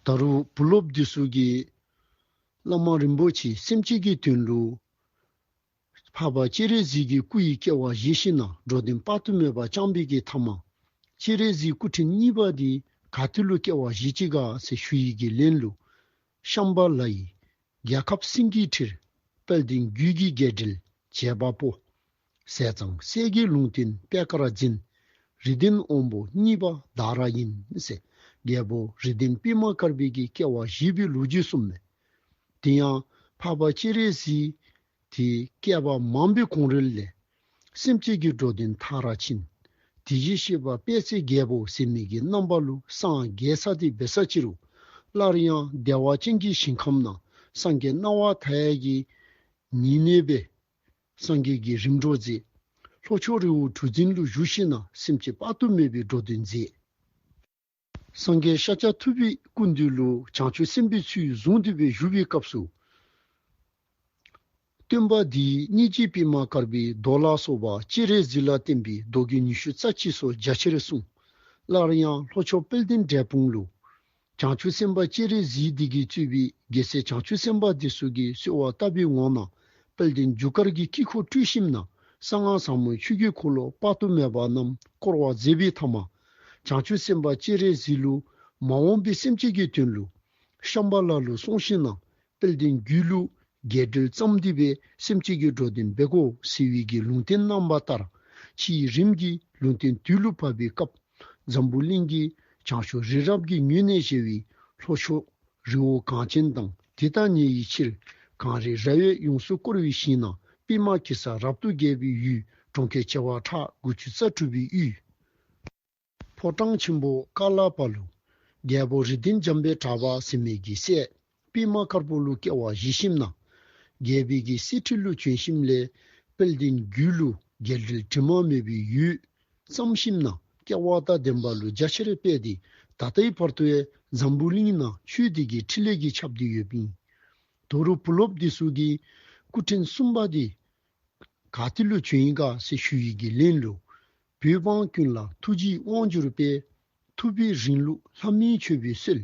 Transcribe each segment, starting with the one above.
ད་རུང་བུ་སློབ་བདུད་གསུག་གིས། བླ་མ་རིན་པོ་ཆེའི་སེམས་བསྐྱེད་ཀྱི་དོན་དུ། འཕགས་པ་སྤྱན་རས་གཟིགས་ཀྱི་སྐུ་ཡི་སྐྱེ་བ་བཞེས་ཤིང་ནང་འགྲོ་བདེན་དཔག་ཏུ་མེད་པ་བཅངས་པའི་གེ་ཐ་མ། སྤྱན་རས་གཟིགས་སྐུ་ཕྲེང་གཉིས་པ་འདི་ག་དུས་ལོ་སྐྱེ་བ་བཞེས་ཅི་ག་ཟེར་ཞུ་ཡིག་གི་ལན་ལུགས། ཤམྦྷ་ལ་ཡི། རྒྱལ་ཁབ་སྲིང་གི་ཁྲིར་དཔལ་ལྡན་རྒྱུད་ཀྱི་རྒྱས་འགྲེལ་བྱེད་པ་པོ། ཟས་གཙང་གསལ་རྒྱལ་ལུང་བསྟན་པད་དཀར་འཛིན། རི་ལྡན་དབོན་པོ་གཉིས་པ་བདག་ར་ཡིན། ཟས་རྒྱལ་པོ་རི་ལྡན་སྤེལ་མ་དཀར་འབེལ་གྱི་སྐྱེ་བ་བཞི་པའི་ལོ་རྒྱུས་གསུམ་མོད། དེ་ཡང་འཕགས་པ་སྤྱན་རས་གཟིགས་དེའི་བསྐལ་པ་མང་པོའི་གོང་རོལ་ལས། སེམས་བསྐྱེད་ཀྱིས་འགྲོ་དེ་མཐའ་ར་ཕྱིན། དེ་བཞིན་གཤེགས་པ་དཔལ་ཚེ་རྒྱལ་པོ་ཟད་མེད་ཀྱི་རྣམ་པ་ལུ་སངས་རྒྱས་ས་ཏི་བའི་ས་ཕྱི་རུ། སླར་ཡང་བདེ་བ་ཅན་གྱི་ཞིང་ཁམས་ན་སངས་རྒྱས་སྣང་བ་མཐའ་ཡས་ཀྱི་ཉི་གནས་པའི། སངས་རྒྱས་ཀྱི་རིམ་གྲོ་མཛད། ལྷོ་ཕྱོགས་རི་བོ་གྲུ་འཛིན་ཀླུ་བཞུགས་ཤིང་ན་སེམས་བསྐྱེད་དཔག་ཏུ་མེད་པས་འགྲོ་དོན་མཛད། སངས་རྒྱས་ཤཱཀྱ་ཐུབ་པས་ཀུན་འདུས་ལོ་བྱང་ཆུབ་སེམས་དཔའི་ཚུལ་བཟུང་འདུས་པའི་བཞུགས་པའི་སྐབས་སུ། སྟོན་པ་འདིས་སྙིང་རྗེའི་པདྨ་དཀར་པོའི་མདོག་ལ་སོགས་པ་སྤྱན་རས་གཟིགས་ལ་བརྟེན་པའི་མདོ་རྒྱུད་ཉི་ཤུ་རྩ་གཅིག་སོགས་རྒྱ་ཆེར་གསུངས། སླར་ཡང་ལྷོ་ཕྱོགས་དཔལ་ལྡན་འབྲས་སྤུངས་ལོ་བྱང་ཆུབ་སེམས་དཔའ་སྤྱན་རས་གཟིགས་སྡེ་དགེས་གཙོས་པའི་རྒྱལ་སྲས་བྱང་ཆུབ་སེམས་དཔའ་སྡེ་སོ་དགེ་གསོལ་བ་བཏབ་པའི་ངོགས་ན་དཔལ་ལྡན་རྒྱུ་སྐར་གྱི་དཀྱིལ་འཁོར་སྤྲུལ་ཞིམ་ན་གསང་སྔགས་བཟང་མོའི་ཆོས་རྒྱུད་འཁོར་ལོ་དཔག་ཏུ་མེད་པ་རྣམས་བསྐོར་བ་མཛད་པའི་ཐ་མ་བྱང་ཆུབ་སེམས་དཔའ་སྤྱན་རས་གཟིགས་ལུགས། མ་འོངས་པའི་སེམས་བསྐྱེད་ཀྱི་དོན་ལུགས། ཤམ་བྷ་ལ་ལུགས་གསུང་ཤིང་ནང་དཔལ་བསྟན་རྒྱུད་ལུགས། རྒྱས་འགྲེལ་བརྩམས་འདུས་པའི་སེམས་བསྐྱེད་ཀྱི་འགྲོ་དོན་སྦེལ་ཀོབ་སི་ཝི་གི་ལུང་བསྟན་གནང་བ་ལྟར། ཕྱི་ཡི་རིམ་གྱིས་ལུང་བསྟན་དུས་ལུགས་བབས་པའི་སྐབས། འཛམ་བུ་གླིང་གི་བྱང་ཕྱོགས་རི་རབ་ཀྱི་ཉུལ་གནས་ཞེས་བའི་ལྷོ་ཕྱོགས་རི་བོ་གངས་ཅན་དང་དེ་དག་ཉིད་ཡི་ཕྱིར་གངས་རི་ར་བས་ཡོངས་སུ་བསྐོར་བའི་ཞིང་ནང་པད་མ་གེ་སར་རབ་ཏུ་རྒྱས་པའི་ཡུལ་གྲོང་ཁྱེར་བྱེ་བ་ཕྲག་དགུ་བཅུ་རྩ་དྲུག་པའི་དབུས། ཕོ་བྲང་ཆེན་པོ་ཀ་ལ་པ་ལུ། རྒྱལ་པོ་རི་ལྡིང་འཇམ་པའི་གྲགས་པ་སྲིན་མེད་ཀྱི་སྲས། པདྨ་དཀར་པོ་ཀླུ་སྐྱེ་བ་བཞི་བཤིམས་ན། རྒྱལ་བུད་ཀྱི་སྲས་ཁྲི་ཀླུ་བྱོན་བཤིམས་ལས། དཔལ་ལྡན་རྒྱུད་ཀླུ་རྒྱལ་དྲིལ་དྲི་མ་མེད་པའི་ཡུལ། བརྩམས་བཤིམས་ན། སྐྱེ་བ་དག་ལྡན་པ་ལུ་རྒྱ་ཆེར་སྤེལ་ཏེ་ད་ལྟའི་བར་དུ་ཨེ་འཛམ་བུ་གླིང་ན་ཆོས་སྡེ་དགེ་ཁྲི་ལས་ཀྱི་ཆབ་འདི་ཡོད། པིང་དོ་རུ་བུ་སློབ་སྡེ་གཟུགས་ཀྱི་སྐུ་ཕྲེང་གསུམ་པ་འདི། ག་ཏི་ལོ་ཆོས་དབྱིངས་དགའ་བསུ་ཞུ་ཡི་དགེ་ལེན་ལོ། བོད་འབངས་ཀུན་ལ་ཐུགས་རྗེའི་དབང་བསྒྱུར་དཔལ། ཐུབ་པའི་རིང་ལུགས་ལྷ་མིའི་མཆོད་པའི་སྲོལ།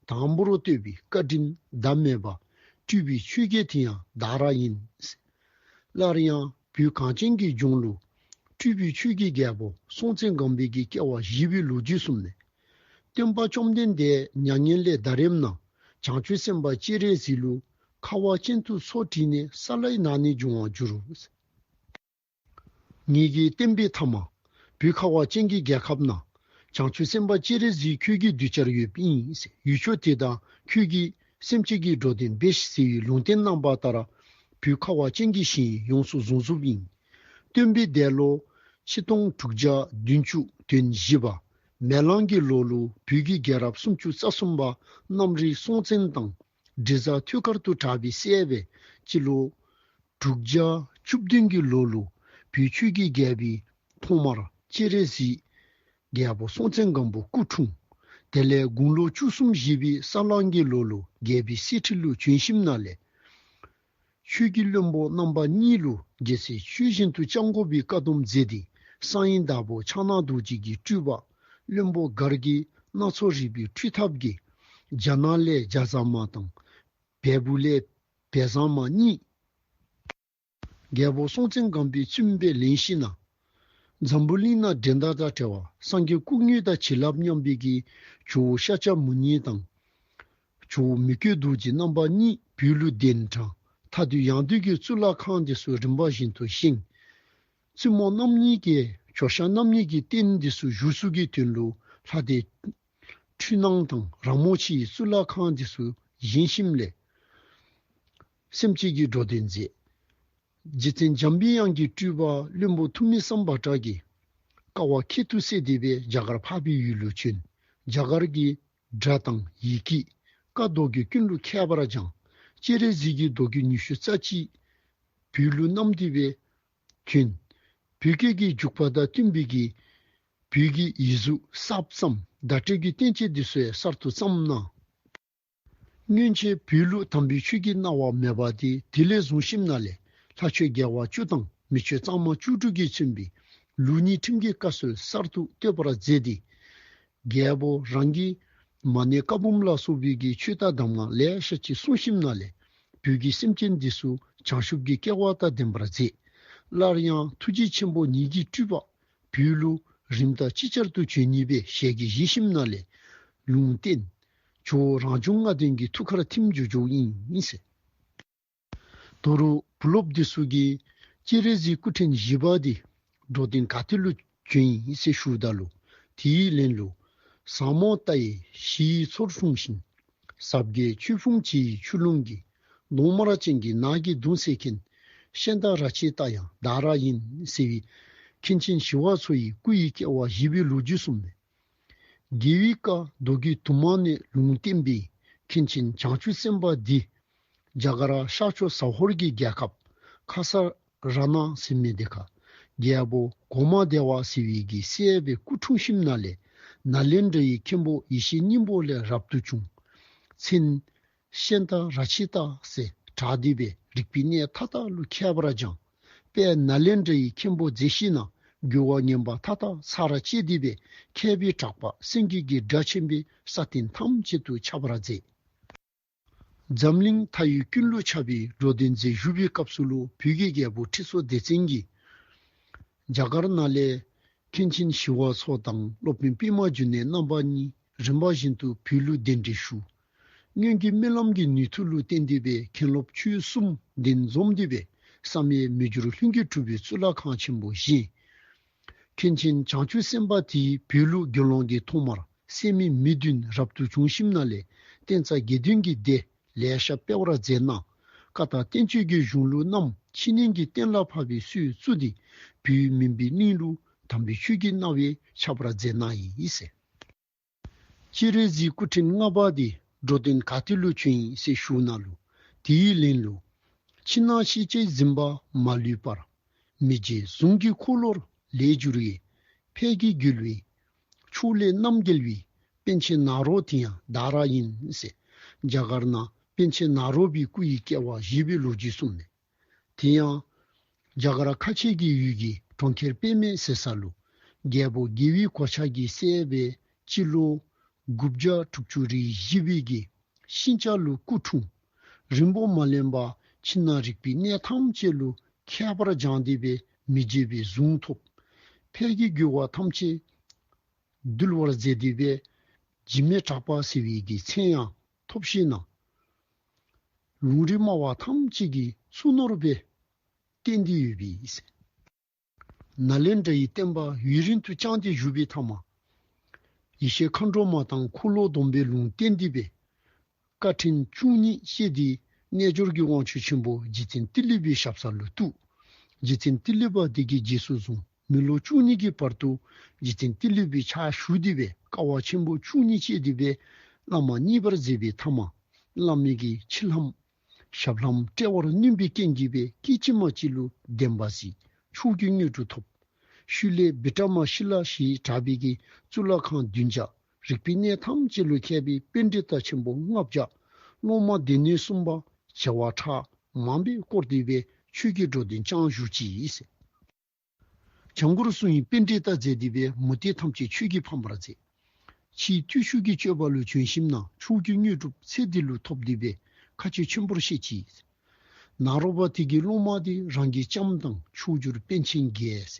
དང་པོར་བསྟོད་པའི་བཀའ་དྲིན་ཟླ་མེད་པ། སྤྲུལ་པའི་ཆོས་རྒྱལ་དེ་ཡང་བདག་ར་ཡིན། སླར་ཡང་བོད་གངས་ཅན་གྱི་ལྗོངས་ལུགས། སྤྲུལ་པའི་ཆོས་རྒྱལ་རྒྱལ་པོ་སྲོང་བཙན་སྒམ་པོའི་གི་སྐྱེ་བ་བཞི་པའི་ལོ་རྒྱུས་གསུམ་ནས། སྟོན་པ་བཅོམ་ལྡན་འདས་མྱ་ངན་ལས་འདའ་རིམ་ན་བྱང་ཆུབ་སེམས་དཔའ་སྤྱན་རས་གཟིགས་ལུས་ཁ་བ་ཅན་དུ་སོར་བྲིས་ནས་ས་ལའི་ནང་ནས་འབྱུང་བར་འགྱུར་རོ། ངེད་ཀྱི་བསྟན་པའི་ཐ་མ་བུ་ཁ་བ་ཅན་གྱི་རྒྱལ་ཁབ་ན་བྱང་ཆུབ་སེམས་དཔའ་སྤྱན་རས་གཟིགས་ཁྱོད་ཀྱི་གདུལ་བྱར་ཡོད་པས་ཡུལ་ཕྱོགས་དེ་དག་ཁྱོད་ཀྱིས་སེམས་བསྐྱེད་ཀྱིས་འགྲོ་དོན་འབའ་ཞིག་ཟེར་བའི་ལུང་བསྟན་གནང་བ་ལྟར་བུ་ཁ་བ་ཅན་གྱི་ཞིང་ཡོངས་སུ་བཟུང་གཟུགས་བཞིན། སྟོན་པའི་འདས་ལོ་ཆིག་སྟོང་དྲུག་བརྒྱ་བདུན་བཅུ་དོན་བཞི་པ། མེ་གླང་གི་ལོ་ལོ་བུད་ཀྱི་རྒྱལ་རབས་སུམ་ཅུ་རྩ་གསུམ་པ་གནམ་རིག་སྲོང་བཙན་དང་དྲི་ཟ་ཐུལ་དཀར་དུ་གྲགས་པའི་སྲས་པའི་སྤྱི་ལོ། དྲུག་བརྒྱ་བཅུ་བདུན་གྱི་ལོ་ལོ་བུད་ཆོས་ཀྱི་རྒྱལ་པའི་ཐོག་མར་སྤྱན་རས་གཟིགས་རྒྱལ་པོ་སྲོང་བཙན་སྒམ་པོ་སྐུ་འཁྲུངས། དེ་ལས་དགུང་ལོ་བཅུ་གསུམ་བཞེས་པའི་ས་གླང་གི་ལོ་ལོ་རྒྱལ་པའི་སྲས་ཁྲི་ལོའི་བྱོན་ཞིབ་ན་ལས། ཆོས་ཀྱི་བློན་པོ་རྣམ་པ་གཉིས་ལུས་རྒྱལ་སྲས་ཆོས་བཞིན་དུ་སྤྱང་ཀོ་བའི་བཀའ་སྡོམ་མཛད་དེ་གསང་ཡེ་བདག་པོ་ཕྱག་ན་རྡོ་རྗེ་གིས་སྤྲུལ་པ། བློན་པོ་སྒར་དགེ་སྣ་ཚོགས་རིག་པའི་ཁྲུས་ཐབས་དགེ། རྒྱ་ནག་ལས་རྒྱ་བཟང་མ་དང། བལ་བོ་ལས་བལ་བཟང་མ་གཉིས། རྒྱལ་པོ་སྲོང་བཙན་སྒམ་པོའི་བཙུན་པའི་ལན་གཤིས་ན། འཛམ་བུ་གླིང་ན་འགྲན་ཟླ་དང་བྲལ་བ་སངས་རྒྱས་སྐུ་བསྙུན་དང་བྱིན་རླབས་མཉམ་སྤེལ་གྱི་ཇོ་བོ་ཤཱཀྱ་མུ་ནེ་དང། ཆུ་བོ་མི་བསྐྱོད་རྡོ་རྗེ་རྣམ་པ་གཉིས་བུའི་ལུས་གདན་དྲངས། མཐའ་དུས་ཡང་དུས་ཀྱི་གཙུག་ལག་ཁང་འདི་སུ་རིམ་པ་བཞིན་དུ་བཞེངས། བཙུན་མོ་རྣམ་གཉིས་ཀྱི་ཞོ་ཤ་རྣམ་གཉིས་ཀྱི་རྟེན་འདི་སུ་བཞུགས་གཟུགས་ཀྱི་དོན་ལུགས་ལྷ་སྡེ། འཕྲུལ་སྣང་དང་རང་མོ་ཆེ་ཡི་གཙུག་ལག་ཁང་འདི་སུ་བཞེངས་བཞིན་ལས། སེམས་བསྐྱེད་ཀྱི་འགྲོ་དོན་མཛད། རྗེ་བཙན་འཇམ་པའི་དབྱངས་ཀྱི་སྤྲུལ་པ་བློན་པོ་ཐུ་མི་སམ་བཱ་ཀྲ་གིས། ཀ་བ་ཁེ་ཐུ་སེ་སྡེ་པས་རྒྱ་གར་འཕགས་པའི་ཡུལ་ལུགས་ཆོས་རྒྱ་གར་གྱི་སྒྲ་དང་ཡི་གེ། བཀའ་ཟློག་རྒྱུད་ཀུན་ལུགས་ཁྱད་པར་སྦྱང། སྤྱན་རས་གཟིགས་ཀྱི་ཟློག་རྒྱུད་ཉི་ཤུ་རྩ་གཅིག། བོད་ལུགས་གནམ་བདེ་བའི། ཐུན། བོད་སྐད་ཀྱི་འཇུག་པ་དང་བསྟུན་པའི་གི། བོད་ཀྱི་ཡིག་གཟུགས་གསར་བརྩམས་བརྡ་སྤྲོད་རྒྱུད་གཏན་ཆེ་འདི་སོས་གསར་དུ་བརྩམས་གནང། སྔོན་ཆད་བོད་ལུགས་དམ་པའི་ཆོས་ཀྱི་སྣང་བ་མེད་པ་དེ་དེ་ལས་བཟུང་ཤིབ་ན་ལས་ལྷ་ཆོས་རྒྱལ་བ་བཅུ་དང་མི་ཆོས་གཙང་མ་བཅུ་དྲུག་གིས་མཚོན་པའི་ལུགས་གཉིས་ཁྲིམས་ཀྱི་བཀའ་སྲོལ་གསར་དུ་གཏོད་པར་མཛད་དེ། རྒྱལ་པོ་རང་གིས། མ་ནི་བཀའ་འབུམ་ལ་སོགས་བོད་ཀྱི་ཆོས་བདག་གདམས་ངག་ལེགས་བཤད་ཀྱི་གསུང་ཞིམ་ན་ལས། བོད་ཀྱི་སེམས་ཅན་འདི་སུ་བྱང་ཆུབ་ཀྱི་སྐལ་བ་དང་ལྡན་པར་མཛད། སླར་ཡང་ཐུགས་རྗེ་ཆེན་པོ་ཉིད་ཀྱིས་སྤྲུལ་པ། བུའི་གླུ། རིམ་དང་ཅིག་ཅར་དུ་བྱོན་གཉིས་པའི་ཞལ་གྱི་གཞི་ཞིམ་ན་ལས། ལུང་བསྟན། ཇོ་བོ་རང་བྱུང་ལྔ་ལྡན་གྱི་ཐུགས་ཁར་ཐིམ་འཇུག་འཇུག་དབྱིངས། ཏུ་རུ་བུ་སློབ་བདེ་སུ་གི་སྐྱེས་རེ་ཟི་སྐུ་ཕྲེང་བཞི་པ་དེ་འགྲོ་སྟེང་ག་ཏི་ལུ་གྱོན་ཡིན་སེ་ཤུ་ད་ལུ་དེ་ཡིས་ལན་ལུ། ཟངས་མོ་རྟ་ཡི་བཞི་ཡི་ཚོར་ལྷུང་ཞིང། ཟབ་རྒྱའི་ཆུ་ཕུང་བྱི་ཡི་ཆུ་ཀླུང་གི་གདོང་དམར་ཅན་གྱི་ནགས་ཀྱི་གདུང་སེལ་མཁན་གཤེན་རྟ་ར་ཆེའི་རྟ་ཡང་ཟླ་ར་ཡིན་ཟེར་བའི་མཁན་ཆེན་ཞི་བ་འཚོ་ཡི་སྐུ་ཡི་སྐྱེ་བ་བཞི་པའི་ལོ་རྒྱུས་གསུངས་མོད། རྒྱལ་བའི་བཀའ་མདོ་གི་དུ་མ་ནས་ལུང་བསྟན་པའི་མཁན་ཆེན་བྱང་ཆུབ་སེམས་དཔའ་འདི་རྒྱ་གར་ཤར་ཕྱོགས་ཟ་ཧོར་གྱི་རྒྱལ་ཁབ་ཁ་ས་ར་ན་སི་མེ་དེ་ག་རྒྱལ་པོ་གོ་མ་བདེ་བ་སི་བི་གི་སྲས་པའི་སྐུ་འཁྲུངས་ཤིམ་ན་ལའི་ནཱ་ལེནྡྲ་ཡི་མཁན་པོ་ཡེ་ཤེས་སྙིང་པོ་ལས་རབ་ཏུ་བྱུང། མཚན། གཤེན་དང་ར་བྱི་དང་སེ་བྲག་སྡེ་པའི་རིག་པའི་གནས་མཐའ་དག་ཀླུ་ཁྱད་པར་འབྱངས་པས་ནཱ་ལེནྡྲ་ཡི་མཁན་པོ་མཛེས་ཤིང་ནང་འགྱུར་བ་ངན་པ་མཐའ་དག་ཚར་ར་བཅད་སྡེ་པའི་མཁས་པའི་གྲགས་པ་སེང་གེ་གི་སྒྲ་ཆེན་པོས་ས་སྟེང་ཐམས་ཅད་དུ་ཁྱབ་པར་མཛད། འཛམ་གླིང་མཐའ་ཡི་ཀུན་ཀློ་ཆགས་པའི་འགྲོ་བདེ་མཛད་བཞུགས་པའི་སྐབས་སུ་ཀླུ་བུ་གའི་རྒྱལ་པོ་ཁྲི་ཚོ་སྡེ་བཙན་གྱིས། རྒྱ་གར་ནཱ་ལེནྡྲའི་མཁན་ཆེན་ཞི་བ་འཚོ་དང་སློབ་དཔོན་པད་མ་རྒྱུད་ནས་རྣམ་པ་གཉིས་རིམ་པ་བཞིན་དུ་བུ་ཀླུ་བདེ་འབྲས་ཞུ་སྔོན་གྱི་རྨི་ལམ་གྱི་ནུས་མཐུ་ལུས་རྟེན་འདུས་པའི་མཁན་སློབ་ཆོས་གསུམ་བདེན་འཛོམས་འདུས་པའི་བསམ་ཡས་མི་འགྱུར་ལྷུན་གྱིས་གྲུབ་པའི་གཙུག་ལག་ཁང་ཆེན་པོ་བཞེངས། མཁན་ཆེན་བྱང་ཆུབ་སེམས་དཔའ་དེའི་བོད་ལུགས་དགེ་སློང་གིས་ཐོག་མར་སད་མི་མི་བདུན་རབ་ཏུ་བྱུང་ཞིམ་ན་ལས་བསྟན་རྩ་དགེ་འདུན་གྱི་སྡེ་ལས་ཤ་སྤེལ་བར་མཛད། གནང་བཀའ་དང་བསྟན་བཅོས་ཀྱི་གཞུང་ལུགས་རྣམས་ཕྱི་གླིང་གི་གཏན་ལ་ཕབ་པའི་སུས་བཙུགས་ཏེ་བུའི་མིང་པའི་གླིང་ལུགས་དམ་པའི་ཆོས་ཀྱི་སྣང་བས་ཆགས་པར་མཛད་གནང་ཡིན། སྤྱིར་རས་གཟིགས་སྐུ་ཕྲེང་ལྔ་པ་དེ་འགྲོ་དོན་ག་དུས་ལུས་ཆོད་ཡིན་སྲས་ཞུ་ན་ལུས་དེ་ཡིས་ལེན་ལུས། ཕྱི་ནང་ཤེས་བྱའི་འཛིན་པ་མ་ལུས་པར། མི་རྗེ་ཟུང་གི་འཁོར་ལོར་ལས་བསྒྱུར་བའི། ཕས་ཀྱི་བསྒྱུལ་བའི་ཕྱོགས་ལས་རྣམ་རྒྱལ་བའི། པན་ཆེན་ནཱ་རོ་དེ་ཡང་བདག་ར་ཡིན་སྲས། རྒྱ་གར་ན་པན་ཆེན་ནཱ་རོ་པའི་སྐུ་ཡི་སྐྱེ་བ་བཞི་པའི་ལོ་རྒྱུས་གསུངས་མེད། དེ་ཡང། རྒྱ་གར་ཁ་ཆེ་གི་ཡུལ་གྱི་གྲོང་ཁྱེར་དཔེ་མེད་ཟེར་ས་ལུ། རྒྱལ་པོ་དགེ་བའི་གོ་ཆ་གི་སྲས་པའི་སྤྱི་ལོ། དགུ་བརྒྱ་དྲུག་ཅུ་རེའི་གཞི་དཔེ་གི་ཤིང་ལྕགས་ལུ་སྐུ་འཁྲུངས། རིན་པོ་མ་ལེན་པ་ཕྱི་ནང་རིག་པའི་གནས་ཐམས་ཅད་ལུ་ཁྱད་པར་སྦྱངས་བདེ་བས་མི་བརྗེད་པའི་གཟུངས་ཐོབ། ཕལ་གྱི་རྒྱུ་བ་ཐམས་ཅད་འདུལ་བར་མཛད་བདེ་བས། འཇིགས་མེད་གྲགས་པ་ཟེར་བའི་གི་མཚན་ཡང་ཐོབ་བཞིན་གནང། ལུང་རིགས་སྨྲ་བ་ཐམས་ཅད་ཀྱི་སུན་ནོར་བས་གཏན་བདེ་ཡོད་པས། ནཱ་ལེནྡྲ་ཡི་བསྟན་པ་ཡུན་རིང་དུ་བསྐྱངས་ཏེ་བཞུགས་པའི་མཐའ་མ། ཡེ་ཤེས་མཁའ་འགྲོ་མ་དང་འཁོར་ལོ་སྡོམ་པའི་ལུང་བསྟན་འདུས་པའི་བཀའ་ཕྲིན་བཅུ་གཉིས་བཤད་དེའི་རྣལ་འབྱོར་གྱི་དབང་ཆོས་ཆེན་པོ་རྗེ་བཙན་ཏི་ལི་བའི་ཞབས་ས་ལུ་ཐུག་རྗེ་བཙན་ཏི་ལི་པ་དེ་གའི་རྗེས་སུ་བཟུང། མི་ལོ་བཅུ་གཉིས་ཀྱི་བར་དུ་རྗེ་བཙན་ཏི་ལོད་པའི་ཕྱག་བཞུགས་བསྡུས་པའི་ཀ་བ་ཆེན་པོ་བཅུ་གཉིས་བཅས་བསྡུས་པའི་བླ་མ་གཉིས་པར་མཛད་པའི་ཐ་མ་བླ་མེད་ཀྱི་ཕྱིར་ལྷའམ། ཞབས་ལྷའམ་དཔྲལ་བར་བསྣུན་པའི་རྐྱེན་གྱིས་པའི་སྐད་ཅིག་མ་གཅིག་ལུས་བདེན་པ་གཟིགས་ཕྱོགས་ཀྱི་མྱུར་དུ་ཐོབ། ཤུལ་ལས་སྦི་ཏྲ་མ་ཤི་ལ་ཞེས་གྲགས་པའི་གི་གཙུག་ལག་ཁང་བདུན་བརྒྱ་རིག་པའི་གནས་ཐམས་ཅད་ལོ་མཁས་པའི་དཔེ་འབྲི་སྟ་ཆེན་པོ་ལྔ་བརྒྱ། སློབ་མ་སྡེ་སྣོད་གསུམ་པ་བྱེ་བ་ཕྲག་མང་པས་བསྐོར་བསྡུས་པའི་ཆོས་ཀྱི་འགྲོ་དོན་བསྐྱངས་བཞུགས་ཀྱིས། བྱང་སྒོར་སྲུང་ཡིས་དཔེ་འགྲེལ་ལྟར་མཛད་འདུས་པའི་མུ་སྟེགས་ཐམས་ཅད་ཆོས་ཀྱིས་ཕམ་པར་མཛད། ཕྱིས་བརྟུལ་ཞུགས་ཀྱི་སྤྱོད་པ་ལུས་བྱོན་ཞིམ་ནང་ཕྱོགས་རྒྱུ་མྱོས་གྲུབ་ཚེ་འདི་ལུས་ཐོབ་འདུས་པས་མཁའ་སྤྱོད་ཆེན་པོར་གཤེགས་ཀྱིས། ནཱ་རོ་པ་དྷི་གི་སློབ་མ་སྟེ་རང་གི་ལྕམ་དང་མཆོག་གྱུར་དཔལ་ཆེན་བརྒྱད།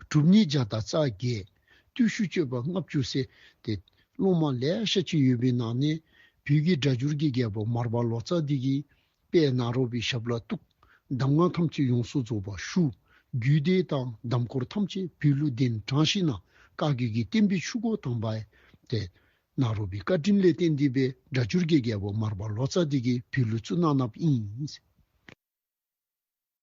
གྲུབ་བརྙེས་བརྒྱ་དང་རྩ་བརྒྱད། བརྟུལ་ཞུགས་སྤྱོད་པ་ལྔ་བཅུ་བསྲེ་སྟེ་སློབ་མ་ལེགས་བཤད་ཅིག་ཡོད་པའི་ནང་ནས། བོད་ཀྱི་སྒྲ་སྦྱོར་གྱི་རྒྱལ་པོ་མར་པ་ལོ་ཙཱ་བདེ་སྐྱིད་པད་ནག་རོལ་པའི་ཞབས་ལ་གཏུག། གདམས་ངག་ཐམས་ཅད་ཡོངས་སུ་རྫོགས་པར་ཞུ། རྒྱུད་སྡེ་དང་གདམས་སྐོར་ཐམས་ཅད་བོད་གླུ་གདན་དྲངས་ཤིག་ན། བཀའ་བརྒྱུད་ཀྱི་བསྟན་པའི་ཆུ་འགོ་དྭངས་པའི། པད་ནག་རོལ་པའི་བཀའ་དྲིན་ལས་གཏན་བདེ་བའི་སྒྲ་བསྒྱུར་དགེ་རྒྱལ་པོ་མར་པ་ལོ་ཙཱ་བདེ་དགེའི་བོད་གླུ་གཙུག་ན་བརྣབ་ཨིན།